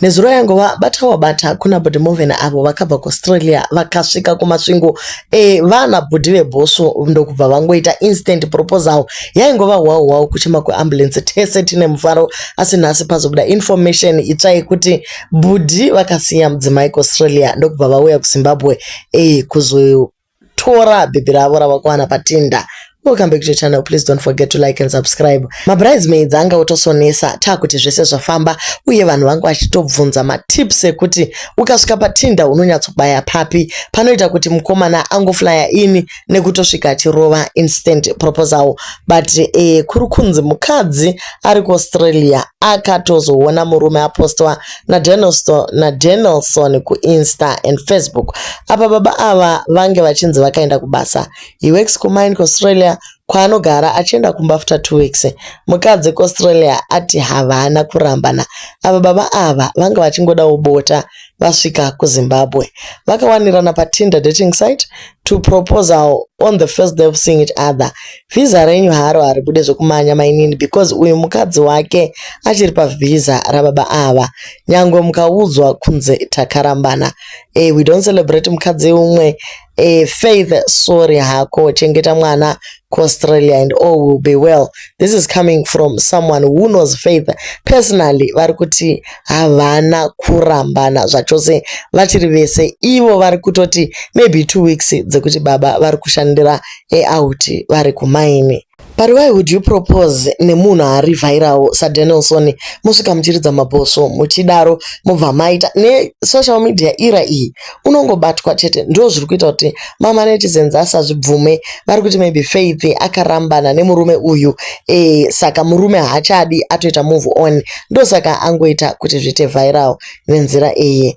Nezuro yangova bata wabata kuna Bhudhi Movhen avo vakabva kuAustralia vakasvika kumasvingo e, vana Bhudhi vebhosvo ndokubva vangoita instant proposal. Yaingova hwawo hwawo kuchema kweambulance tese tine mufaro asi nhasi pazobuda information itsva yekuti Bhudhi vakasiya mudzimai kuAustralia ndokubva vauya kuZimbabwe e, kuzo Tora baby ravo ravakuwana patinda. Welcome back to the channel. Please don't forget to like and subscribe. Mabridesmaids anga otosonesa taa kuti zvese zvafamba uye vanhu vanga vachitobvunza matips ekuti ukasvika patinda unonyatsobaya papi panoita kuti mukomana angoflaya ini nekutosvika achirova instant proposal but eh, kuri kunzi mukadzi ari kuaustralia akatozoona murume apostwa naDenelson naDenelson kuInsta and Facebook apa baba ava vange vachinzi vakaenda kubasa. He works kumine kuAustralia kwaanogara achienda kumba after two weeks. Mukadzi kuAustralia ati havana kurambana apa baba ava vange vachingodawo bota vasvika kuZimbabwe. Vakawanirana paTinder dating site to proposal on the first day of seeing each other vhiza renyu haro haribude zvekumanya mainini because uyu mukadzi wake achiri pavhiza rababa ava nyangwe mukaudzwa kunze takarambana e, we don't celebrate mukadzi umwe e, faith sorry hako chengeta mwana kuAustralia and all will be well. This is coming from someone who knows faith personally. Vari kuti havana kurambana zvachose vachiri vese. Ivo vari kutoti maybe two weeks dzekuti baba vari kushandira eout vari kumaini. But why would you propose nemunhu aarivhairawo saDanielson mosvika muchiridza mabhosvo muchidaro mobva maita nesocial media era iyi unongobatwa chete ndoo zviri kuita kuti mama netizens asazvibvume vari kuti maybe faith akarambana nemurume uyu e, saka murume haachadi atoita move on ndosaka angoita kuti zviite viral nenzira iyi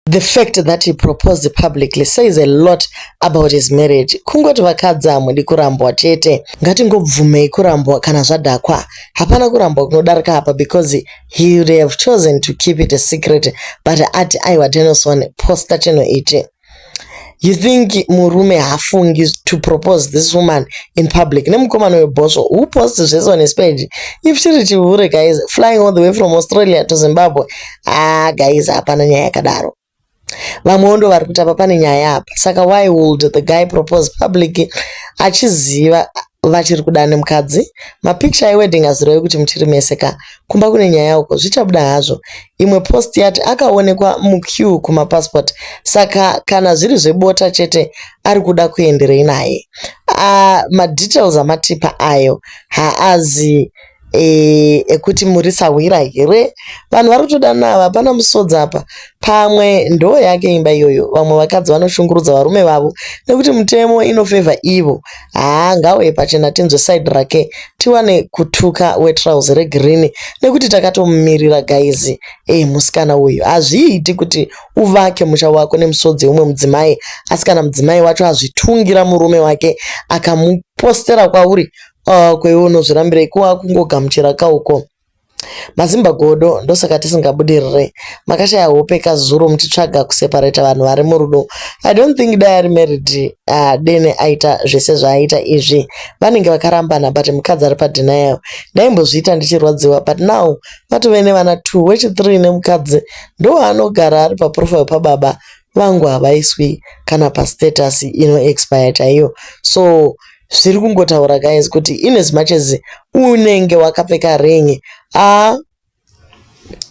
The fact that he proposed publicly says a lot about his marriage. Kungoti vakadzi hamudi kurambwa chete. Ngatingobvumei kurambwa kana zvadhakwa. Hapana kurambwa kunodarika apa because He would have chosen to keep it a secret but ati aiwa Denison poster chinhu ichi. You think murume hafungi to propose this woman in public nemukomana uyo bhosvo who post zvese on his page if chiri chihure guys flying all the way from Australia to Zimbabwe ah guys hapana nyaya yakadaro. Vamwewo ndovari kuti apa pane nyaya apa. Saka why would the guy propose public achiziva vachiri kudana nemukadzi. Mapicture ewedding azirowe kuti muchiri mese ka. Kumba kune nyaya uko. Zvichabuda hazvo. Imwe post yati akaonekwa muqueue kumapassport saka kana zviri zvebota chete ari kuda kuenderei naye. Ah madetails amatipa ayo haazi Eeh ekuti muri sahwira here. Vanhu vari kutodana ava hapana musodzi apa. Pamwe ndoo yake imba iyoyo. Vamwe vakadzi vanoshungurudza varume vavo nekuti mutemo ino favour ivo. Haa ngaauye pachena tinzwe side rake tiwane kutuka we trouse re green nekuti takatomumirira guys. Eeh musikana uyu. Hazviiti kuti uvake musha wako nemusodzi weumwe mudzimai asi kana mudzimai wacho azvitungira murume wake akamu postera kwauri Ah, ko iwe unozvirambirei ko wakungogamuchira ka uko. Mazimba godo ndosaka tisingabudirire. Makashaya hope ka zuro muchitsvaga kuseparate vanhu vari murudo. I don't think dai ari married uh, dene aita zvese zvaaita izvi. Vanenge vakarambana but mukadzi ari pa denial. Ndaimbozviita ndichirwadziwa but now vatove nevana two wechi three nemukadzi ndowaanogara ari pa profile pa baba vangu havaiswi kana pa status ino expire chaiyo. So zviri kungotaura guys kuti in as much as unenge wakapfeka ring a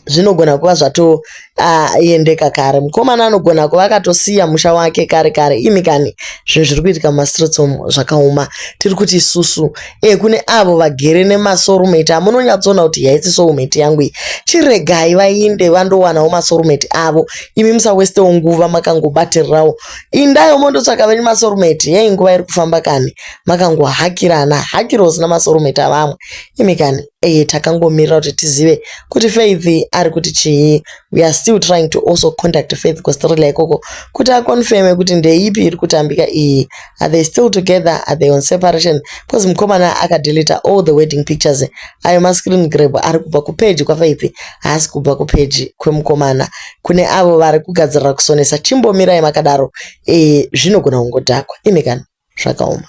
zvinogona kuva zvatoendeka uh, kare mukomana anogona kuva akatosiya musha wake kare kare imi kani zvinhu zviri kuitika mumastreets omu zvakaoma tiri kuti isusu e kune avo vagere nemasorumeti amunonyatsoona kuti yaisi soumeti yangu iyi chiregai vainde vandowanawo masorumeti avo imi musawestewo nguva makangobatirirawo indayo mondotsvaka venyu masorumeti yei nguva iri kufamba kani makangohakirana hakiro usina masorumeti avamwe imi kani eye takangomirira kuti tizive kuti faith ari kuti chii weare still trying to also contact faith kustrela ikoko kuti aconfirme kuti ndeipi iri kutambika iyi are they still together are they on separation bcause mukomana akadeleta all the wedding pictures ayo mascreen grab ari kubva kupeji kwafaith haasi kubva kupeji kwemukomana kune avo vari kugadzirira kusonesa chimbomirai makadaro ee zvinogona kungodhakwa imi kana zvakaoma